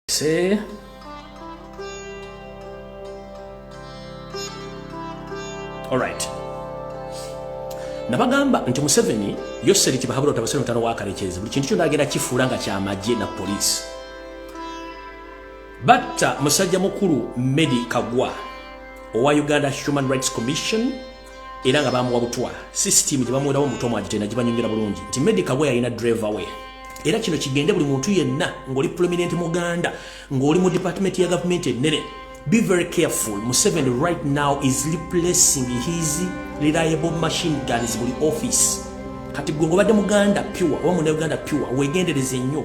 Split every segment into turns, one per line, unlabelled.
See? Alright. nabagamba nti museveni yoseri kibahabura otabasere mutano wakarekyezi buli kintu kyona agenda kifuula nga kyamagye na poliisi batta musajja mukulu medi kagwa owa uganda human rights commission era nga bamuwa butwa sisitiimu gye bamuwerawo omuto mwagite nagibanyongera bulungi nti medica we yalina driver we era kino kigende buli muntu yenna ng'oli prominent muganda ng'oli mu department ya gavumenti ennene be very careful museveni right now is replacing his reliable machine guns buli office kati gwe ngobadde muganda pure oba muna uganda pure wegendereze nnyo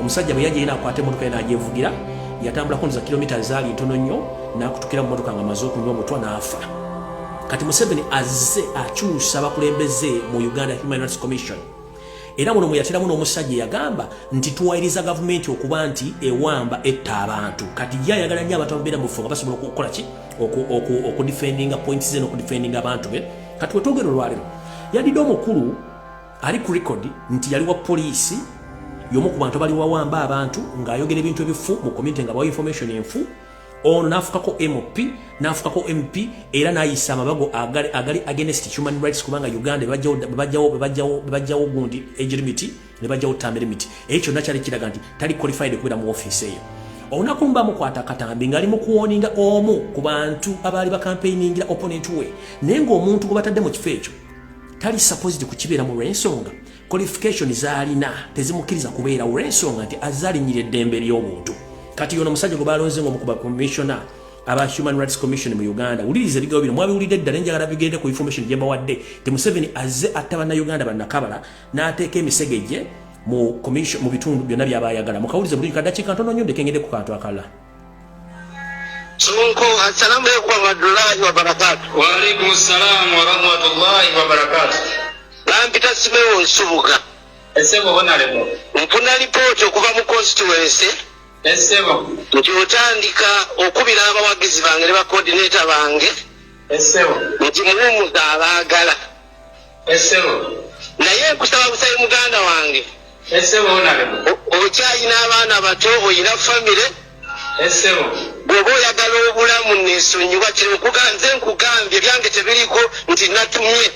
omusajja bwe yajeyina akwata emotoka ye nagyevugira yatambula kunza kilomita ezaali ntono nnyo nakutukira mu motoka nga maze okunywa omutwa n'afa kati museveni azze akyusa abakulembeze mu uganda human rights commission era muno mweyateramu n'omusajja yagamba nti tuwayiriza gavumenti okuba nti ewamba etta abantu kati ye ayagala nnyo abantu ababeera mu bufo nga basobola okukola ki okudifendinga points ze n'okudifendinga abantu be kati wetwogera olwalero yadidde omukulu ali ku record nti yali wa poliisi yomu ku bantu abali wawamba abantu ng'ayogera ebintu ebifu mu community nga bawa information enfu ono n'afukako mp n'afukako mp era n'ayisa amabago agali, agali against human rights kubanga uganda bebajjawo gundi age limit ne bajjawo term limit ekyo kyonna kyali kiraga nti tali qualified okubeera mu ofiisi eyo olunaku lumu bamukwata katambi ng'ali mu kuwoninga omu ku bantu abaali bakampeiningira opponent we naye ng'omuntu gwe batadde mu kifo ekyo tali supposed kukibeera mu lw'ensonga qualification zaalina tezimukkiriza kubeera olw'ensonga nti azalinyira eddembe ly'obuntu kati yono omusajja gwe balonze ngaomukuba commissiona aba human rights commission mu uganda wuliriza ebigawo bino mwabiwulidde ddala enjagala bigende ku information gyebawadde ti museveni azze atta bannauganda bannakabala n'ateeka emisege gye mu bitundu byonna byaba ayagala mukawulize buli kadakiika ntono nyo ndekengede ku kantu akalala Sonko,
assalamu alaikum warahmatullahi wabarakatuh. Wa alaikum assalam warahmatullahi wabarakatuh. Bampita Simewo Nsubuga. Esebo bonalemo. Mpuna lipooti okuva mu constituency. Esebo. Nti otandika okubira abawagizi bange ne bakodineta bange. Esebo. Nti muwumuza abaagala. Esebo. Naye nkusaba busabe muganda wange. Esebo onalema. Okyayina abaana bato oyina family. Esebo. Bwoba oyagala obulamu nesonyiwa kino nkuga nze nkugambye byange tebiriko nti natumye.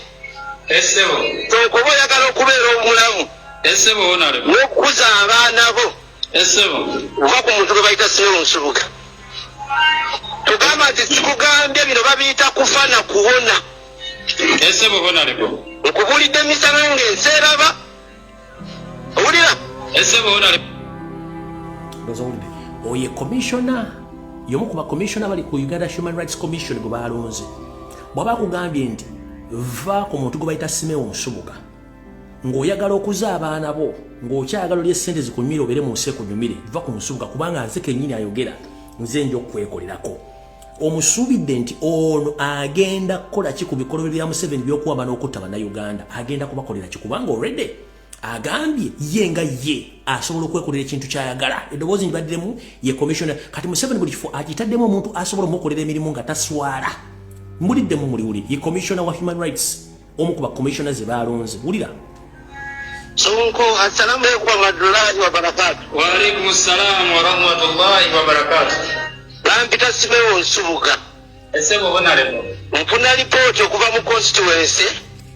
Esebo. Tokuba oyagala okubeera omulamu. Esebo onalema. Nokukuza abaana bo. Esebo. Uva ku muntu gwe bayita Simo Nsubuga. Tugamba nti sikugambye bino babiyita kufa na kuwona. esebo honalebo nkubulidde emisana nga enseraba owulira esebo honalebo
oye komishona yomu ku bakomishona bali ku uganda human rights commission gwe balonze bwaba akugambye nti va ku muntu gwe bayita simewo nsubuga ng'oyagala okuza abaana bo ng'okyagala olye sente zikunyumire obeere mu nsi ekunyumire va ku nsubuga kubanga nze kennyini ayogera nze nja okukwekolerako omusuubidde nti ono agenda kukola ki ku bikolobero bya museveni byokuwamba n'okutta bannayuganda agenda kubakolera ki kubanga olredy agambye ye nga ye asobola okwekolera ekintu kyayagala eddoboozi nti baddemu ye commissiona kati museveni buli kifo akitaddemu omuntu asobola omukolera emirimu nga taswala mbuliddemu muliwuli ye commissiona wa human rights omu ku bakomishona ze baalonze wulira
Sonko assalamu alaikum warahmatullahi wabarakatu. Wa alaikum assalam warahmatullahi wabarakatu. Bampita Simewo Nsubuga. Esebo bonalemo. Mpuna lipooti okuva mu constituency.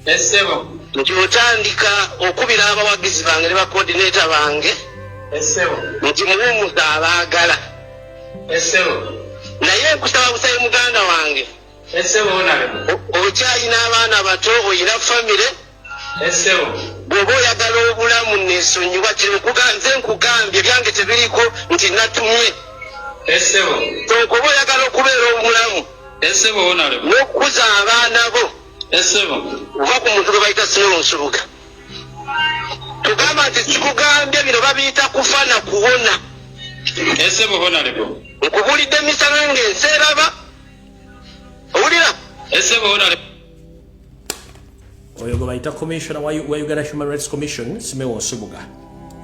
Esebo. Nti otandika okubira abawagizi bange ne bakoordinator bange. Esebo. Nti muwumuza abaagala. Esebo. Naye nkusaba busabe muganda wange. okyalina abaana bato oyina famire bwoba oyagala obulamu nesonyiwa kyenze nkugambye byange tebiriko nti natumye okoba oyagala okubeera obulamu nokukuza abaana bo oba ku muntu gwe bayita sinola nsubuga tugamba nti kikugambye bino babiyita kufa na kuwona
nkubulidde emisana
nga ensi eraba owulira esebo
ona
oyo gwe bayita commissioner wa uganda human rights commission simewo nsubuga